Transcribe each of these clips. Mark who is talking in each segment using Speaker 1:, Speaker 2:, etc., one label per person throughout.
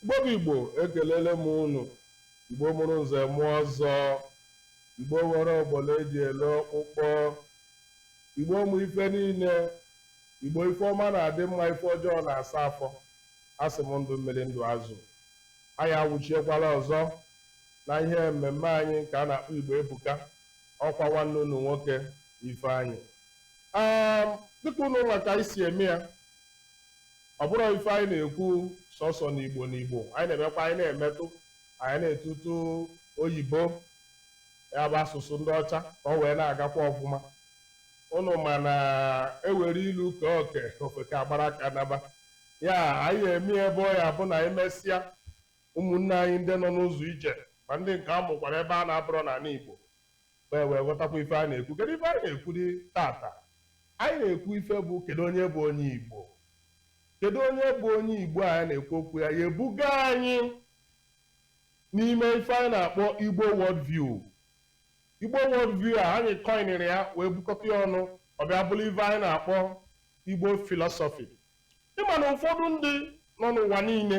Speaker 1: Igbo bụ Igbo ekelele m unu Igbo mụrụ nze mụọ ọzọ Igbo nwere ọgbọla eji ele ọkpụkpọ Igbo mụ ife niile Igbo ife ọma na-adị mma ife ọjọọ na-asa afọ asị m ndụ mmiri ndụ azụ anyị awụchiekwala ọzọ na ihe mmemme anyị nke a na-akpọ Igbo Ebuka ọkwa nwanne unu nwoke Ifeanyị um dịka ụnụ ma ka anyị si eme ya ọ bụrọ ife anyị na-ekwu sọsọ n'Igbo n'Igbo anyị na-emekwa anyị na-emetụ anyị na-etutu oyibo ya bụ asụsụ ndị ọcha ka ọ wee na-agakwa ọfụma ụnụ ma na e were ilu kee oke ofeke agbara aka naba ya anyị eme ebe ọ ya bụ na anyị mesịa ụmụnne anyị ndị nọ n'ụzọ ije ma ndị nke a mụkwara ebe a na-abụrọ n'ala Igbo wee wee ghọtakwa ife a na-ekwu kedu ife anyị na-ekwudị tata anyị na-ekwu ife bụ kedu onye bụ onye Igbo kedu onye bụ onye Igbo a anyị na-ekwu okwu ya ya ebuga anyị n'ime ife anyị na-akpọ Igbo World View Igbo World View a anyị kọinere ya wee bukọta ya ọnụ ọ bịa bụrụ ife anyị na-akpọ Igbo philosophy ị ma na ụfọdụ ndị nọ n'ụwa niile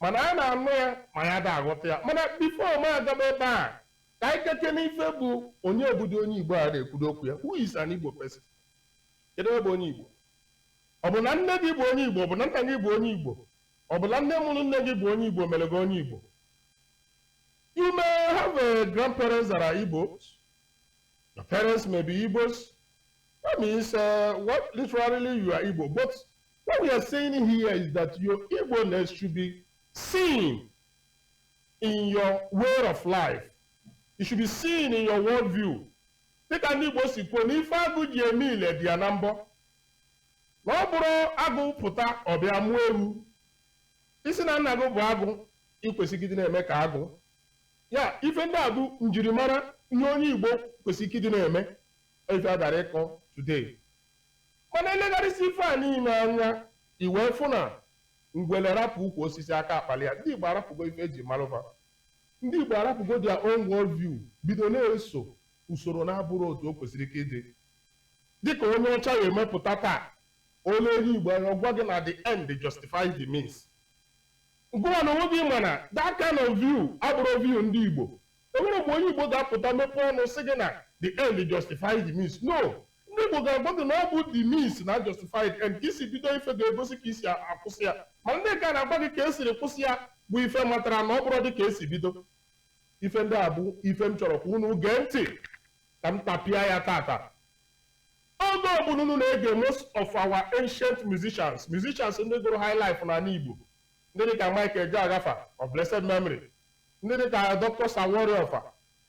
Speaker 1: mana anyị na-anụ ya ma anyị ada aghọta ya mana before m agaba ebe a ka anyị kọkene ife bụ onye bụdụ onye Igbo a na-ekwudụ okwu ya who is an Igbo person kedu onye bụ onye Igbo ọ bụ na nne gị bụ onye Igbo ọ bụ na nna gị bụ onye Igbo ọ bụ na nne mụrụ nne gị bụ onye Igbo mere gị onye Igbo you may have a grandparents that are Igbos your parents may be Igbos that means uh, what literally you are Igbo but What we are saying here is that your Igbo-ness should be seen in your way of life. It should be seen in your worldview. Dịka ndị Igbo si kwuo na ife agụ ji eme ile dị ya na mbọ. Na ọ bụrọ agụ pụta ọ bịa mụọ ewu. Ị sị na nna gị bụ agụ i kwesịrị ịdị na-eme ka agụ. Ya ife ndị a bụ njirimara ihe onye Igbo kwesịrị ịdị na-eme ife a bịara ịkọ today. Mana i legharịsịa ife a niile anya, i wee fụ na ngwele rapụ ukwu osisi aka akpalụ ya. Ndị Igbo arapụgo ife e ji malụ fa. Ndị Igbo arapụgo their own world view bido na-eso usoro na-abụrọ otu o kwesịrị ka ịdị. Dịka onye ọcha ya-eme pụta taa, o lee onye Igbo anya, ọ gwa gị na the end justifies the means. Gịnwa na onwe gị ma na that kind of view abụrọ view ndị Igbo. O nwere mgbe onye Igbo ga-apụta mepee ọnụ sị gị na the end justifies the means. No, Ndị Igbo ga-agwa gị na ọ bụ the means na-justify the end. Ka i si bido ife ga-egosi ka i si akwụsị ya. Mana ndị nke a na-agwa gị ka e siri kwụsị ya bụ ife matara na ọ bụrọ dị ka e si bido. Ife ndị a bụ ife m chọrọ ka unu gee ntị ka m tapịa ya tata. Oge ọbụla unu na-ege most of our ancient musicians, musicians ndị gụrụ high life n'ala Igbo, ndị dịka Mike Ejeagha fa of blessed memory, ndị dịka Dr. Sir Warrior fa,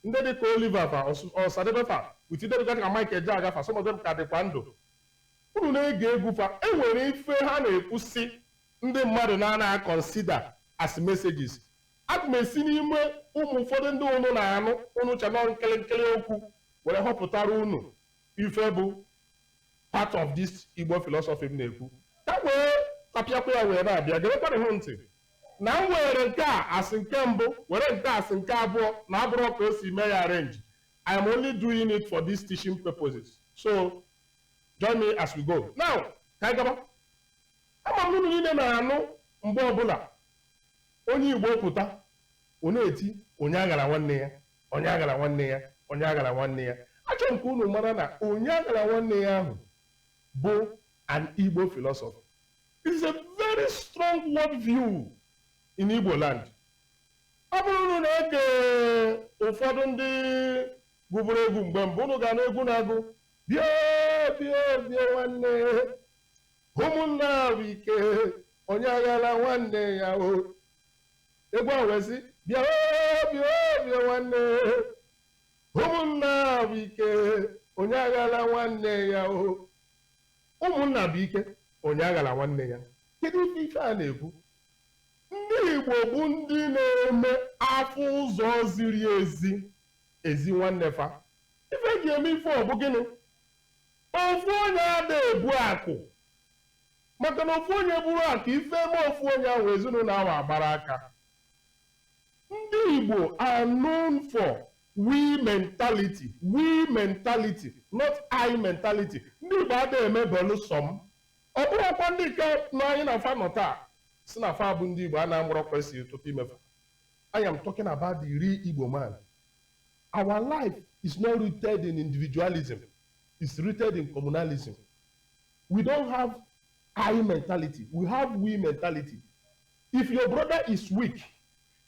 Speaker 1: Ndị dịka Oliver fa, Osadebe fa, with ndị dịgasị ka Mike Ejeagha fa, some of them ka dịkwa ndụ. Unu na-ege egwu fa, e nwere ife ha na-ekwusi ndị mmadụ na-ana consider as messages. Aga m esi n'ime ụmụ ụfọdụ ndị unu na-anụ unu che na ọ nkịlịnkịlị okwu were họpụtara unu ife bụ part of this Igbo philosophy m na-ekwu. Ka wee kapịakwa ya wee na-abịa, gerekwanụ hụ ntị. na m weere nke a as nke mbụ, were nke a as nke abụọ na abụrọ ka o si mee ya arrange. I am only doing it for these teaching purposes. So, join me as we go. Now, ka anyị gaba. Ama m unu niile na-anụ mgbe ọbụla onye Igbo pụta, ọ na-eti onye aghara nwanne ya, onye aghara nwanne ya, onye aghara nwanne ya. Achọrọ m ka unu mara na onye aghara nwanne ya ahụ bụ an Igbo philosophy. It is a very strong world view in Igbo land. Ọ bụrụ unu na-ege ụfọdụ ndị gụburu egwu mgbe mbụ unu ga-anụ egwu na-agụ bịa bịa bịa nwanne ụmụnna wụ ike onye aghara nwanne ya o egwu ahụ wee sị bịa o, bịa o, bịa nwanne ụmụnna wụ ike onye aghara nwanne ya o Ụmụnna bụ ike, onye aghara nwanne ya. Kedu ife ife a na-ekwu? Ndị Igbo bụ ndị na-eme a fụ ụzọ ziri ezi e zi nwanne fa. Ife eji eme ife ọ bụ gịnị? Ofu onye ada ebu akụ. Maka na ofu onye buru akụ, ife eme ofu onye ahụ ezinụlọ ahụ agbara aka. Ndị Igbo are known for We mentality, we mentality, not I mentality. Ndị Igbo ada eme beelụ sọ m. Ọ bụrọkwa ndị nke nọ anyị na fa nọ taa sị na fa bụ ndị Igbo a na-amụrụ kwesịrị ọtụtụ ime fa. I am talking about the real Igbo man. Our life is not rooted in individualism. It's rooted in communalism. We don't have I mentality. We have we mentality. If your brother is weak,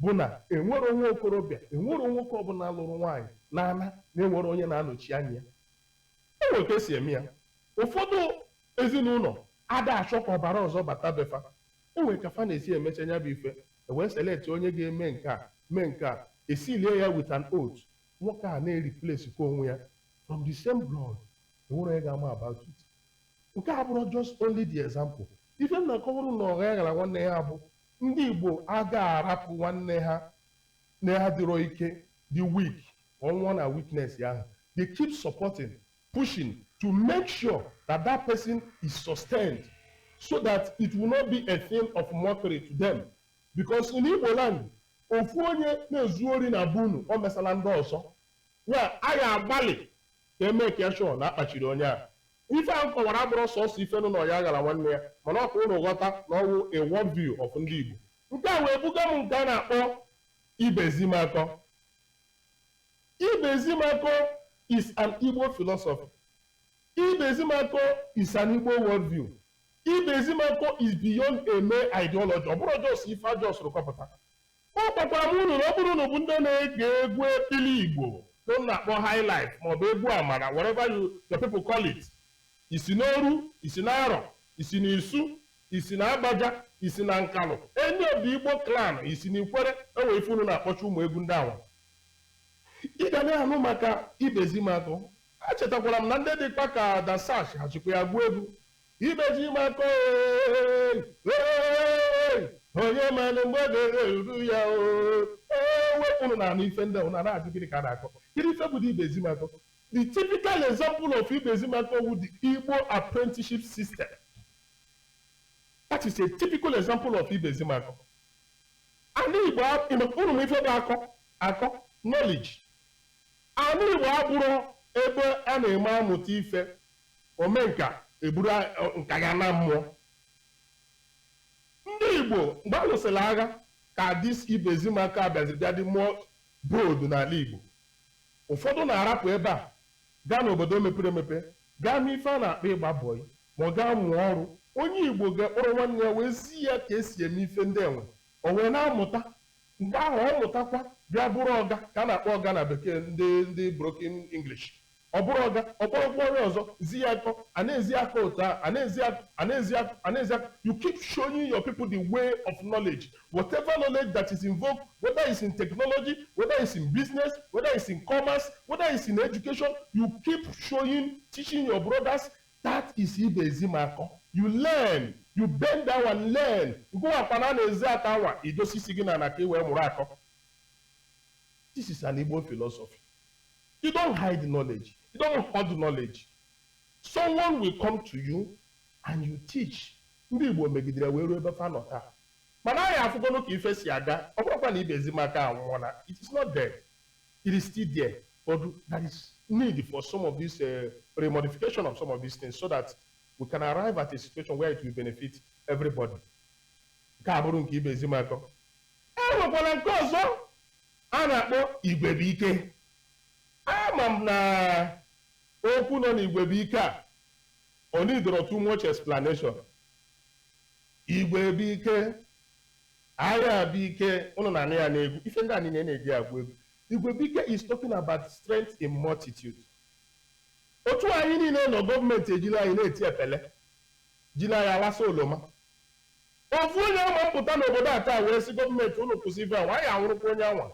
Speaker 1: bụ na e nwero nwa okorobịa, e nwero nwoke ọbụla lụrụ nwaanyị na-ana na e nwero onye na-anọchi anya ya. E nwere ka e si eme ya. Ụfọdụ ezinụlọ ada achọ ka ọbara ọzọ bata be fa. E nwere ka fa na-esi emecha nya bụ ife. E wee select onye ga-eme nke a, mee nke a. E seal-ie ya with an oath. Nwoke a na-replace kwa onwe ya from the same blood. E nwero onye ga-ama about it. Nke a abụrọ just only the example. Ife m na-akọwara unu onye aghala nwanne ya bụ Ndị Igbo aga arapụ nwanne ha na-adịrọ ike, the weak, ka ọ nwụọ na weakness ahụ. They keep supporting, pushing to make sure that that person is sustained so that it will not be a thing of mockery to them. Because in Igbo land, ofu onye na-ezu ori na be unu o mesala ndị ọzọ ya a ga-agbalị ka e make sure na akpachiri onye a Ife a m kọwara abụrọ sọsọ ife nọ n'Onye Aghala nwanne ya, mana ọ ka unu ghọta na ọ wụ a world view of ndị Igbo. Nke a wee buga m nke a na-akpọ Ibezimakọ. Ibezimakọ is an Igbo philosophy. Ibezimakọ is an Igbo world view. Ibezimakọ is beyond a mere ideology. Ọ bụrọ just ife a just-ụrụ kọpụta. Agwakwara m unu na ọ bụrụ na unu bụ ndị na-ege egwu ekpili Igbo nke unu na-akpọ high life maọbụ egwu amara whatever you people call it, i si n'Oru, i si n'Arọ, i si n'Isu, i si na Agbaja, i si na Nkalụ, any of the Igbo clan, i si n'Ikwere, e nwe ife unu na-akpọcha ụmụ egwu ndị anwa. Ị ga na-anụ maka Ibezimakọ. Echetakwara m na ndị dịkwa ka Dan Satch ha chịkwa ya gụọ egwu. Ibezimakọ oyi oyi onye manụ mgbe oge ga-eru ya o ee wepụrụ na-anụ ife ndị ahụ na na-ajụ gịnị ka a na-akọ kedu ife bụ Ibezimakọ the typical example of Ibezimakọ wụ the Igbo apprenticeship system that is a typical example of Ibezimakọ ana Igbo unu ma ife bụ akọ akọ knowledge ana Igbo abụrọ ebe a na-eme amụta ife omenka eburu nka ya naa mmụọ. Ndị Igbo mgbe a lụsịrị agha ka this Ibezimakọ a bịaziri bịa dị more bold n'ala Igbo. Ụfọdụ na-arapụ ebe a gaa n'obodo mepere emepe gaa mee ife a na-akpọ ịgba bọyị ma ọ gaa mụọ ọrụ. Onye Igbo ga-ekpọrọ nwanne ya wee zi ya ka e si eme ife ndị anwa, o wee na-amụta. Mgbe ahụ ọ mụtakwa bịa bụrụ ọga ka a na-akpọ ọga na bekee ndị ndị broken English. Ọ bụrụ ọga, ọ kpọrọkwa onye ọzọ, zi ya akọ, a na-ezi ya akọ otu ahụ, a na-ezi ya akọ, a na-ezi ya akọ, a na-ezi ya akọ. You keep showing your people the way of knowledge. Whatever knowledge that is involved, whether it's in technology, whether it's in business, whether it's in commerce, whether it's in education, you keep showing, teaching your brothers, that is Ibezimakọ. You learn, you bend down and learn. Ngụwa kwana a na-ezi akọ anwa, idosi isi gị n'ana ka i wee mụrụ akọ. This is an Igbo philosophy. You don't hide knowledge. You don't hoard knowledge. Someone will come to you and you teach. Ndị Igbo megidere wee ruo ebe fa nọ taa. Mana anyị afụgonu ka ife si aga, ọ bụrọkwa na Ibezimakọ anwụọna. It is not dead. It is still there. But there is need for some of this uh, remodification of some of these things so that we can arrive at a situation where it will benefit everybody. Nke a bụrụ nke Ibezimakọ. E nwekwara nke ọzọ a na-akpọ igwebuike. Ama m na okwu nọ n'igwebuike a ọ needorọ too much explanation. Igwebuike, Ayabuike, unu na-anụ ya n'egwu. Ife ndị a niile a na-eji agụ egwu. Igwebuike is talking about strength in multitude. Otu a anyị niile nọ gọọmenti ejili anyị na-eti epele, jili anyị alasa oloma. Ofu onye ama m pụta n'obodo a taa wee sị gọọmenti unu kwụsị ife anwa, a ya-anwụrụkwa onye anwa.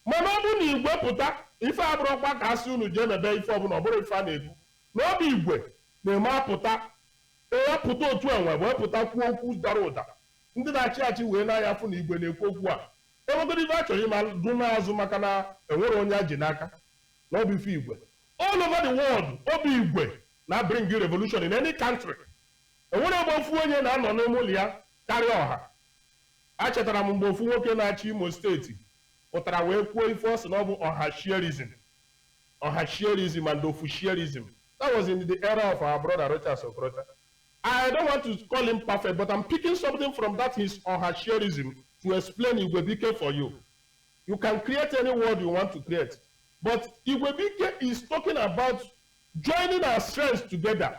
Speaker 1: Mana ọ bụrụ na igwe pụta, ife a bụrọkwa ka a sị unu jee mebe ife ọbụla, ọ bụrọ ife a na-ekwu na ọ bụ igwe na-eme apụta ya pụta otu anwa wee pụta kwuo okwu dara ụda ndị na-achị achị wee na-anya afụ na igwe na-ekwu okwu a enwegodo ife a chọrọ ịma dụ n'azụ maka na enwerọ onye a ji n'aka na ọ bụ ife igwe all over the world ọ bụ igwe na bring revolution in any country E nwerọ ebe ofu onye na-anọ n'ime ụlọ ya karịa ọha. Achetara m mgbe ofu nwoke na-achị Imo steeti pụtara wee kwuo ife ọ sị na ọ bụ ọhashierism, ọhashierism and ofushiarism. That was in the era of our brother Rochas Okorocha. I don't want to call him perfect, but I'm picking something from that his ọhashierism to explain Igwebike for you. You can create any word you want to create. But Igwebike is talking about joining our strengths together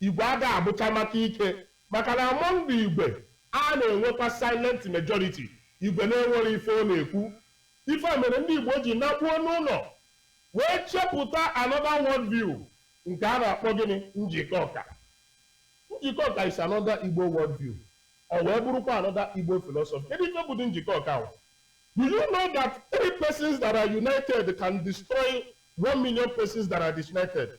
Speaker 1: Igwe ada abụcha maka ike maka na among the Igwe a na-enwekwa silent majority, Igwe na-enwerọ ife ọ na-ekwu. Ife a mere ndị Igbo ji nakpuo n'ụnọ wee chepụta another world view nke a na-akpọ gịnị? Njikọka. Njikọka is another Igbo world view. Ọ wee bụrụkwa another Igbo philosophy. Kedu ife bụdị Njikọka ahụ? Do you know that three persons that are united can destroy one million persons that are disunited?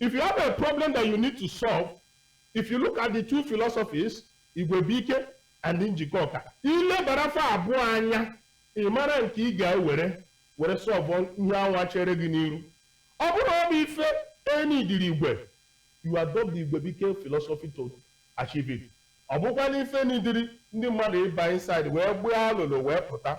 Speaker 1: If you have a problem that you need to solve, if you look at the two philosophies, Igwebuike and Njikọka, i lebara fa abụọ anya ị mara nke ị ga-ewere were solve ihe anwa chere gị n'iru ọ bụrụ na ọ bụ ife e needịrị igwe you adopt the Igwebuike philosophy to achieve it ọ bụkwa na ife e needịrị ndị mmadụ ịba inside wee gbaa alụlụ wee pụta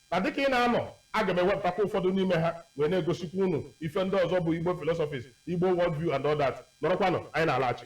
Speaker 1: Na dịka ị na-anọ, aga m ewepụtakwa ụfọdụ n'ime ha wee na-egosikwa unu ife ndị ọzọ bụ Igbo philosophies, Igbo world view and all that. Nọrọkwanụ, anyị na-alaghachi.